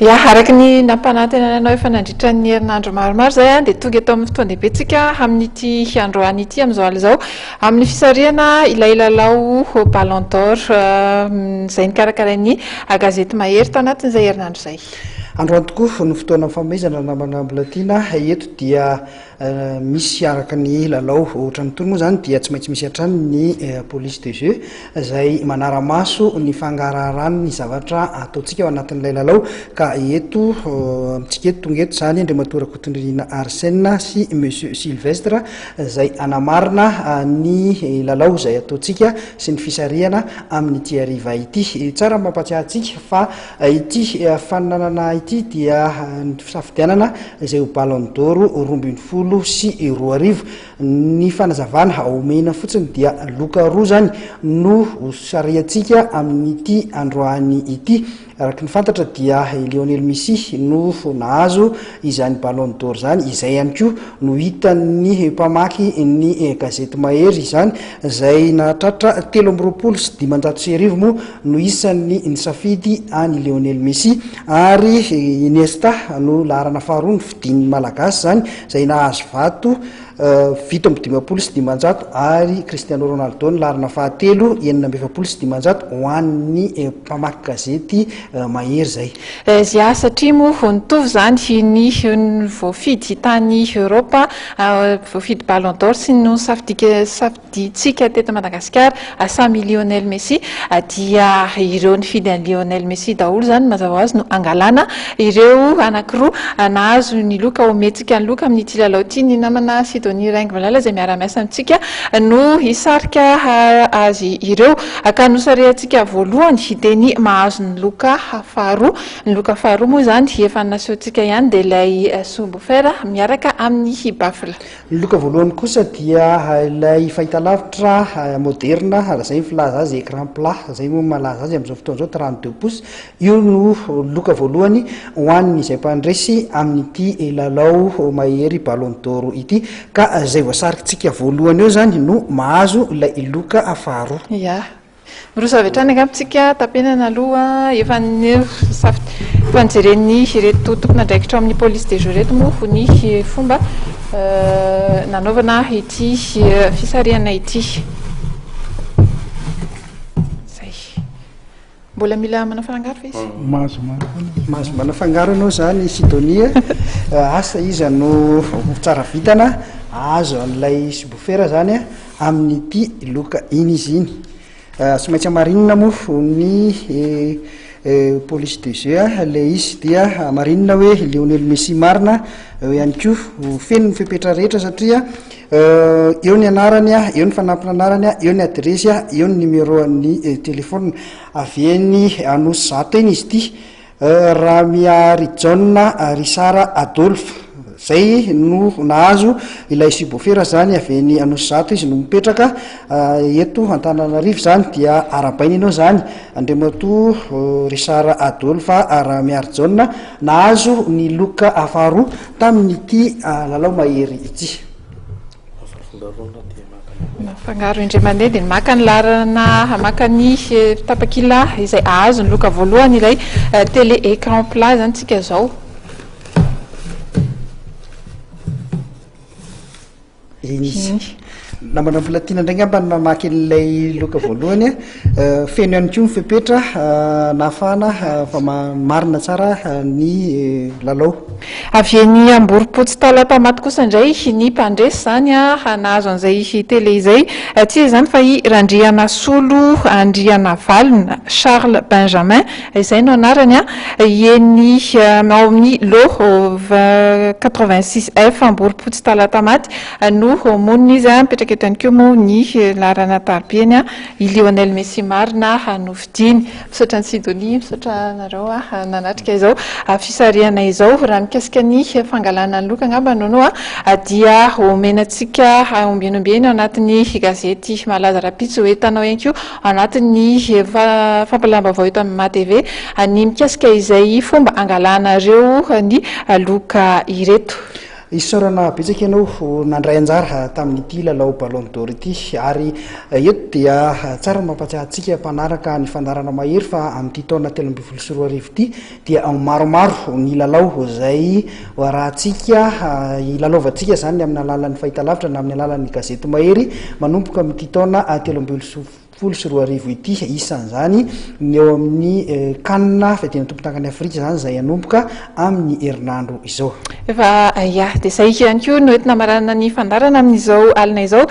Ia, araka ny nampanantenana anao efa nandritra ny herinandro maromaro izay dia tonga eto amin'ny fotoan-dehibentsika amin'ity androany ity amin'izao alina izao amin'ny fisarihana ilay lalao Ballon d'Or izay nikarakarain'ny gazety Mahery tao anatin'izay herinandro izay. Androany tokoa no fotoana fanomezana namana mbola tiana. Eto dia misy araka ny lalao ohatra ny tony moa zany dia tsy maintsy misy hatrany ny eh, police de jeu izay manaramaso ny fangaraharahan'ny zavatra ataontsika ao anatin'ilay lalao ka eto eh, amintsika eto tonga eto zany andriamatoa rakotondrinina arsena sy monsieur sylvestre izay anamarina eh, ny lalao izay ataontsika sy ny fisarihana amin'ny tiariva ity tsara mampatsiahantsika fa Ity fananana ity dia ny fisafidianana izay ho Ballon d'Or roa ambin'ny folo sy roa arivo. Ny fanazavana omena fotsiny dia loka roa izany no hosarihantsika amin'ity androany ity. Araka ny fantatra dia i Lionel Messi no nahazo izany Ballon d'Or izany, izay ihany koa no hitan'ny mpamaky ny gazety mahery izany izay nahatratra telo amby roapolo sy dimanjato sy arivo moa no isan'ny nisafidy an'i Lionel Messi ary Iniesta no laharana faharoa nofidian'ny Malagasy izany izay nahazo vato fito amby dimampolo sy dimanjato ary Cristiano Ronaldo ny laharana fahatelo enina amby efapolo sy dimanjato ho an'ny mpamaky gazety mahery izay. Zia, satria moa vao nitovy izany ny voafidy tany Europe, voafidy Ballon d'Or sy ny nosafidian'ny Diantsika teto Madagasikara samy Lionel Messi dia ireo nifidy an'i Lionel Messi daholo izany mazava ho azy no hangalana ireo anankiroa nahazo ny loka omentsika ny loka amin'ity lalao ity. Ny namana Sidonie Raingo Valala izay miara-miasa amintsika no hisarika azy ireo ka nosarehantsika voalohany dia ny mahazo ny loka faharoa. Ny loka faharoa moa izany efa nasehontsika ihany dia ilay Subwoofer miaraka amin'ny Baffle. Ny loka voalohany kosa dia ilay fahitalavitra moderina, raha izay ny filaza azy, écran plat, izay moa no malaza azy amin'izao fotoana izao, trente deux pouces. Io no loka voalohany ho an'izay mpandresy amin'ity lalao mahery Ballon d'Or ity, ka izay voasarikintsika voalohany eo izany no mahazo ilay loka faharoa. Ya, Miroso avy hatrany angamba tsika tapenana aloha efa ny efa nijeren'ny ireto tompon'andraikitra ao amin'ny police des jeux ireto moa ho ny fomba nanaovana ity fisarihana ity Mbola mila manafangaro fa izy mm. Mahazo Mahazo manafangaro ianao zany Sidonia eh, Asa iza no tsara vitana Azo an'ilay sibofera zany eh, amin'ity loka iny izy iny. Tsy maintsy hamarinina moa ny police de jeu ilay izy dia hamarinina hoe Lionel Messi marina eo ihany koa feno ny fepetra rehetra satria eo ny anarany, eo ny fanampin'anarany, eo ny adiresy, eo ny numéro an'ny telefaonina. Avy eny Anosy zato eny izy ity. Ramiharijaona Risara Adolphe, izay no nahazo ilay subwoofer izany avy eny Anosizato izy no mipetraka eto Antananarivo izany dia arahabaina ianao izany Andriamatoa Risara Adolphe Ramiharijaona nahazo ny loka faharoa tamin'ity lalao mahery ity. Mifangaro indray mandeha dia maka ny laharana hamaka ny eh, tapakila izay ahazo ny loka voalohany ilay eh, télé écran plat zany tsika zao. Inisa. Namana volatiana indray ngamba ny mamaky an'ilay loka voalohany a. Feno ihany koa ny fepetra nahafahana marina tsara ny lalao. Avy eny Amborompotsy Talata maty kosa indray ny mpandresy izany nahazo an'izay tele izay. Tsy iza izany fa i Randrianasolo Andrianavalona, Charles Benjamin izay no anarany, eny ao amin'ny lot quatre-vingt-six F Amborompotsy Talata maty no monina izy. Mipetraka eto ihany koa moa ny laharan'ny antarobia eny. I Lionel Messi marina aho no fidiany. Misaotra an'i Sidonie, misaotra anareo nanatrika izao fisarihana izao. Raha mikasika ny fangalana ny loka angamba no no dia omena antsika ombieny ombieny ao anatin'ny gazety malaza rahampitso hoe Hitanao ihany koa anatin'ny fampilam-baovao eto amin'ny MATV ny mikasika izay fomba angalanareo ny loka ireto. Isaorana betsaka ianao nandray anjara tamin'ity lalao Ballon d'Or ity ary eto dia tsara ny mampatsiahy antsika mpanaraka ny fandaharana mahery fa amin'ity taona telo ambin'ny folo sy roa arivo ity dia maromaro ny lalao izay hoarahantsika hilalaovantsika izany amin'ny alalan'ny fahitalavitra na amin'ny alalan'ny gazety mahery manomboka amin'ity taona telo ambin'ny folo folo sy roa arivo ity, isan'izany ny eo amin'ny can fiadiana tompon-tankan'i Afrika izany izay hanomboka amin'ny herinandro izao. Efa ia, dia izay ihany koa no entina maranana ny fandaharana amin'izao alina izao.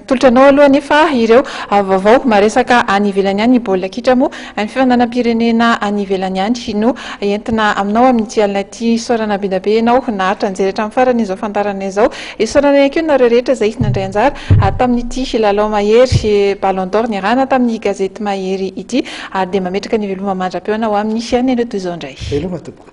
Tolotra anao aloha anefa ireo vaovao maresaka any ivelany any, ny baolina kitra moa ny fifandanam-pirenena any ivelany any no entina aminao amin'ity alina ity. Isaorana be dia be ianao naharitra nijery hatramin'ny farany izao fandaharana izao. Isaorana ihany koa nareo rehetra izay nandray anjara tamin'ity lalao mahery Ballon d'Or niarahana tamin'ny gazety Mahery ity ary dia mametraka ny veloma mandra-pihaona ho amin'ny fihaonana toy izao indray. Veloma tompoko.